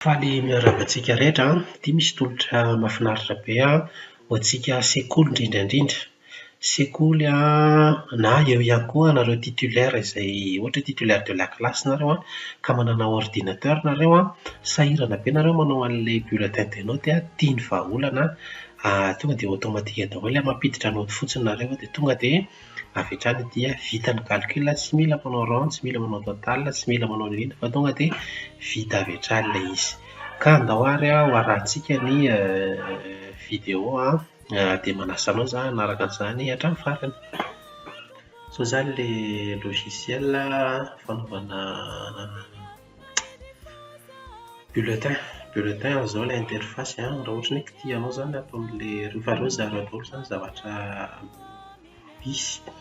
Faly miarahaba antsika rehetra an! Ity misy tolotra mahafinaritra be an, ho antsika sekoly indrindra indrindra. Sekoly an, na eo ihany koa anareo titulaires izay ohatra hoe titulaire de la classe nareo an, ka manana ordinateur nareo an, sahirana be nareo manao an'ilay bulletin de note an, tia ny vahaolana an, tonga dia automatique daholo ilay mampiditra note fotsiny nareo an, dia tonga dia Avy hatrany dia vita ny calcul, tsy mila manao rond, tsy mila manao total, tsy mila manao an'ireny fa tonga dia vita avy hatrany ilay izy. Ka andao ary ho arahintsika ny video an, dia manasa anao za hanaraka an'izany hatramin'ny farany. Sao izany ilay logiciel fanaovana Bulletin, bulletin ary izao ilay interface an, raha ohatra hoe kitia anao izany ato amin'ilay, rehefa avy eo zaharinao daholo izany ny zavatra misy,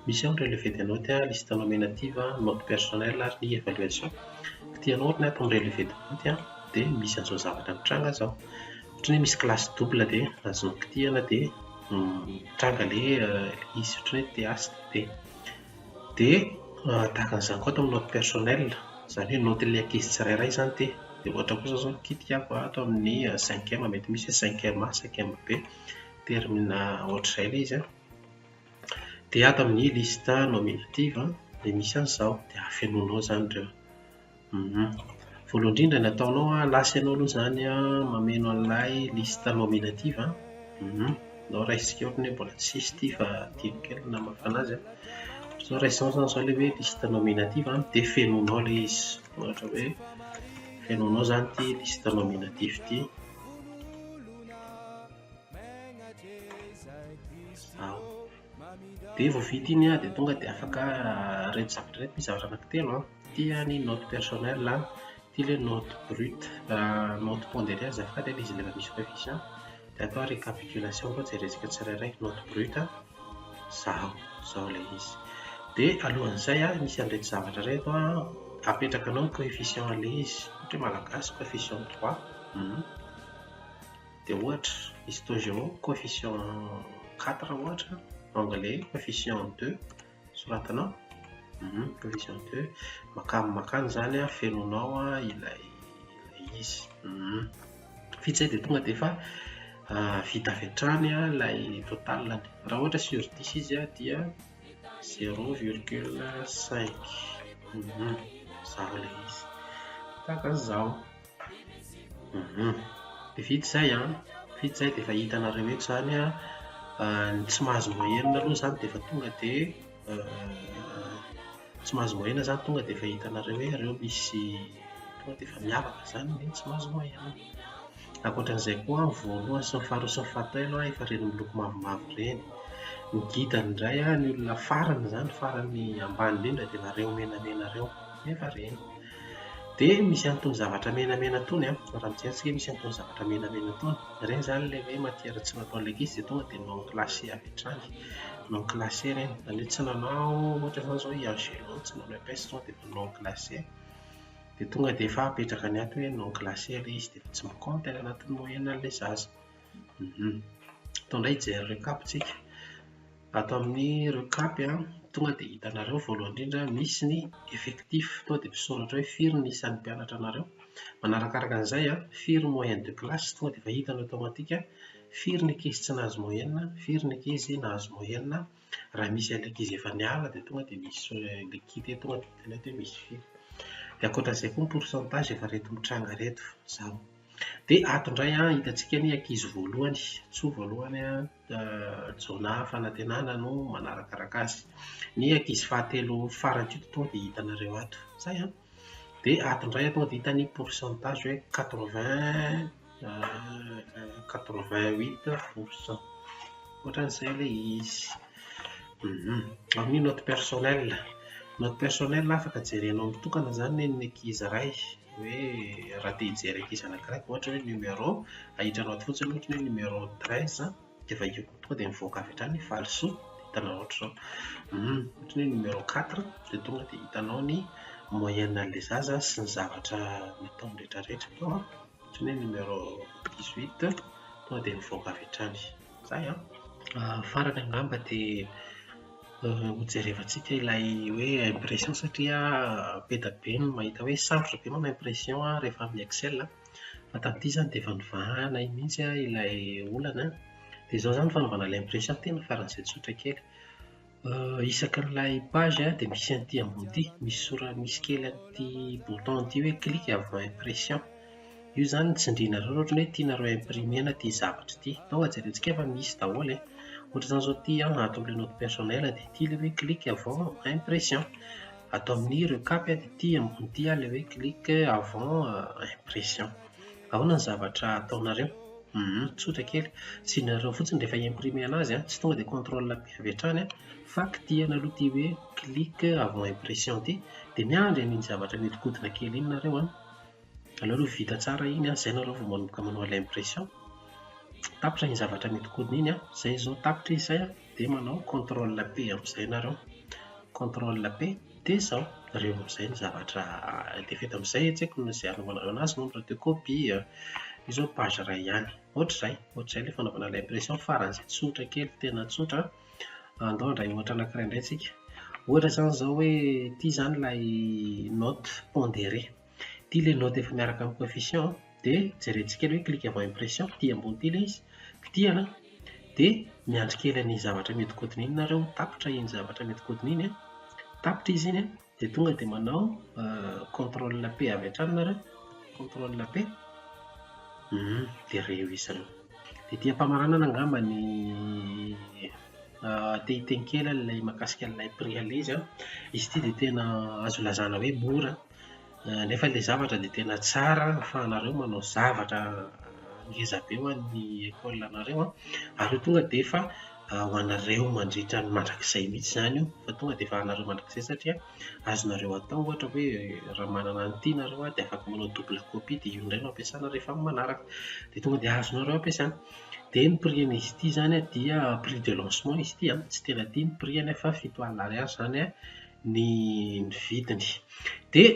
misy ao ny relevé de notes an, liste nominative an, note personnelle ary ny évaluation. Kitia anao ohatra ny ato amin'ny relevé de notes an, dia misy an'izao zavatra mitranga izao. Ohatra hoe misy classe double dia azonao kitihina dia mitranga ilay izy, ohatra hoe TH dia. Dia tahaka an'izany koa ato amin'ny note personnel, izany hoe naotin'ny ankizy tsirairay izany dia dia ohatra koa izao izao ny kitika ato ato amin'ny cinquième mety misy hoe cinquième A, cinquième B, termina ohatr'izay ilay izy an. Dia ato amin'ny liste nominative dia misy an'izao, dia afenonao izany ireo. Humm. Voalohany indrindra ny ataonao an, lasa ianao aloha izany an mameno an'ilay liste nominative an. Humm. Nao raisiko eo ny hoe mbola tsy hisy ity fa adino kely ny namafana azy an. Sao raisinao izany izao ilay hoe liste nominative an, dia fenoinao ilay izy. Ohatra hoe fenoinao izany ity liste nominative ity. Ao. dia vao vita iny an, dia tonga dia afaka ireto zavatra ireto, misy zavatra anankitelo an, ity an ny note personnelle an, ity ilay note brute, raha note pondéré azafady an dia izy ilay efa misy coefficient, dia atao récapitulation koa jerentsika tsirairay, note brute an, izao, izao ilay izy, dia alohan'izay an, misy an'ireto zavatra ireto an, apetrakanao ny coefficient an'ilay izy, ohatra hoe malagasy coefficient trois, humm. Dia ohatra, izy itony géo, coefficient quatre ohatra, anglais, coefficient deux, soratanao, coefficient deux, makany makany izany an, fenonao ilay izy. Vita izay dia tonga dia efa vita avy hatrany ilay total-ny. Raha ohatra sur dix izy an, dia zéro virgule cinq, zao ilay izy. Tahaka an'izao. Vita izay an, vita izay dia efa hitanareo eto izany an, ny tsy mahazo moyenne aloha izany dia efa tonga dia tsy mahazo moyenne izany tonga dia efa hitanareo hoe ireo misy tonga dia efa miavaka izany ny tsy mahazo moyenne. Ankoatra an'izay koa ny voalohany sy ny faharoa sy ny fahatelo an efa ireny miloko mavomavo ireny. Ny didany indray an, ny olona farany izany, farany ambany indrindra dia efa ireo menamena ireo, dia efa ireny. Dia misy an'itony zavatra menamena itony an, raha mijery tsika misy an'itony zavatra menamena itony, ireny izany ilay hoe matière tsy natao ilay ankizy dia tonga dia non classé avy hatrany, non classé ireny, izany hoe tsy nanao ohatra izany izao i Angelo tsy nanao EPS tonga dia efa non classé, dia tonga dia efa apetraka any ato hoe non classé ilay izy dia efa tsy mi-compte any anatin'ny moyenne an'ilay zaza. Atao indray hijery récap tsika. Ato amin'ny ireo kapy an, tonga dia hitanareo voalohany indrindra misy ny effectif, tonga dia misoratra hoe firy ny isan'ny mpianatra anareo. Manarakaraka an'izay an, firy moyenne de classe, tonga dia efa hitanao automatique an, firy ny ankizy tsy nahazo moyenne, firy ny ankizy nahazo moyenne, raha misy ilay ankizy efa niala dia tonga dia misy ilay kit eto tonga dia hitanao eto hoe misy firy. Dia ankoatra an'izay koa ny pourcentage efa ireto mitranga ireto. Izany. Dia ato indray an, hitantsika ny ankizy voalohany, Ntsoa voalohany an, Jaona Fanantenana no manarakaraka azy. Ny ankizy fahatelo farany koa tonga dia hitanareo ato. Izay an! Dia ato indray an, tonga dia hita ny pourcentage hoe quatre vingt quatre vingt huit pour cent. Hoatran'izay ilay izy. Ary ny note personnel. Note personnel afaka jerenao mitokana izany ny an'ny ankizy iray. hoe raha te hijery ankizy anankiray vao ohatra hoe numéro ahitranao ato fotsiny ohatra hoe numéro treize an, dia vakiako tonga dia mivoaka avy hatrany ny valisoa dia hitanao ohatr'izao hum ohatra ny hoe numéro quatre dia tonga dia hitanao ny moyenne an'ilay zaza sy ny zavatra nataony rehetrarehetra tao an, ohatra ny hoe numéro dix huit tonga dia mivoaka avy hatrany. Zay an! Farany angamba dia hojerevantsika ilay hoe impression satria be dia be ny mahita hoe sarotra be manao impression rehefa amin'ny excel an! Fa tamin'ity izany dia efa nivahana iny mihitsy ilay olana an! Dia izao izany ny fanaovana ilay impression tena faran'izay tsotra kely. Isaky ny ilay page a dia misy an'ity ambony ity, misy sora- misy kely an'ity bouton an'ity hoe clic avant impression. Io izany no tsindrianareo raha ohatra hoe tianareo imprimer-na ity zavatra ity. Tonga dia jerentsika fa misy daholo e. Ohatra izany izao ity an, ato amin'ilay note personnel dia ity ilay hoe clic avant impression. Ato amin'ny recap dia ity ambony ity ilay hoe clic avant impression. Aona ny zavatra ataonareo? Hum tsotra kely, tsihinareo fotsiny rehefa hi-imprimer anazy an, tsy tonga dia control P avy hatrany an, fa kitihana aloha ity hoe click avant impression ity, dia miandry an'iny zavatra mihodinkodina kely iny nareo an, aleo aloha vita tsara iny an, izay nareo vao manomboka manao ilay impression, tapitra iny zavatra mihodinkodina iny an, izay izao tapitra izy izay an. Dia manao contrôle P amin'izay nareo. Contrôle P dia izao, reo amin'izay ny zavatra dia vita amin'izay tsy haiko na izay hanaovanareo an'azy moa ny radio copie a. Io izao page iray ihany. Ohatr'izay, ohatr'izay ilay fanaovana ilay impression faran'izay tsotra kely tena tsotra an. Andao handray ohatra anankiray indray tsika. Ohatra izany izao hoe ity izany ilay note pondérée. Ity ilay note efa miaraka amin'ny coefficient dia jerentsika kely hoe clic avant impression ity ambony ity ilay izy kitihana dia miandry kely an'iny zavatra mihodinkodina iny nareo tapitra iny zavatra mihodinkodina iny tapitra izy iny dia tonga dia manao euh, contrôle P avy hatrany nareo contrôle P hmm, dia reo izy reo dia ity ampamaranana angamba ny euh, tehiteny kely ilay makasika ilay prix alay izy an izy ity dia tena azo lazana hoe mora Nefa ilay zavatra dia tena tsara fa anareo manao zavatra ngeza be ho an'ny école anareo an, ary io tonga dia efa ho anareo mandritra ny mandrakizay mihintsy izany io, fa tonga dia efa anareo mandrakizay satria azonareo atao ohatra hoe raha manana an'ity nareo an dia afaka manao double copie dia io indray no ampiasana rehefa amin'ny manaraka, dia tonga dia azonareo ampiasana. Dia ny prix an'izy ity izany an dia prix de lancement izy ity an, tsy tena tia ny prix-ny aho fa fito alina ariary izany an ny ny vidiny. Dia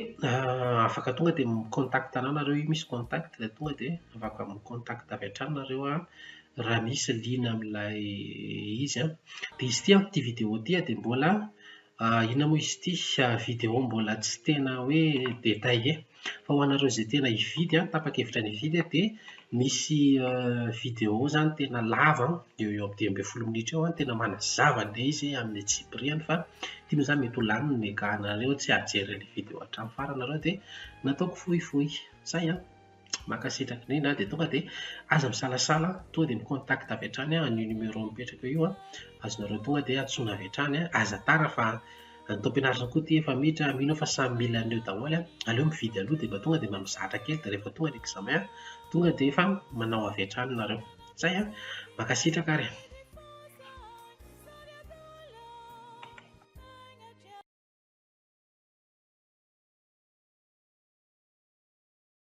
afaka tonga dia mi-contact anà nareo io misy contact dia tonga dia afaka mi-contact avy hatrany nareo an, raha misy liana amin'ilay izy an. Dia izy ity an, ity vidéo ity dia mbola inona moa izy ity? Vidéo mbola tsy tena hoe détaillé. Fa ho anareo izay tena hividy an, tapa-kevitra ny hividy an, dia misy video izany tena lava an, eo ho eo amin'ny dimy ambin'ny folo minitra eo an, tena manazava an'ilay izy amin'ny antsipiriany fa ity moa izany mety ho lanin'ny mega anareo tsy hahajery an'ilay video hatramin'ny farany ianareo dia nataoko fohifohy. Izay an! Mankasitraka indrindra an, dia tonga dia aza misalasala an, tonga dia mi-contact avy hatrany amin'io numéro mipetraka eo io an, azonareo tonga dia antsoina avy hatrany an, aza tara fa Ny Tompon'Arison koa ity efa miditra, mino aho fa samy mila an'io daholo an! Aleo mividy aloha dia mba tonga dia mba mizatra kely dia rehefa tonga ny examen tonga dia efa manao avy hatrany nareo. Zay an! Mankasitraka ary.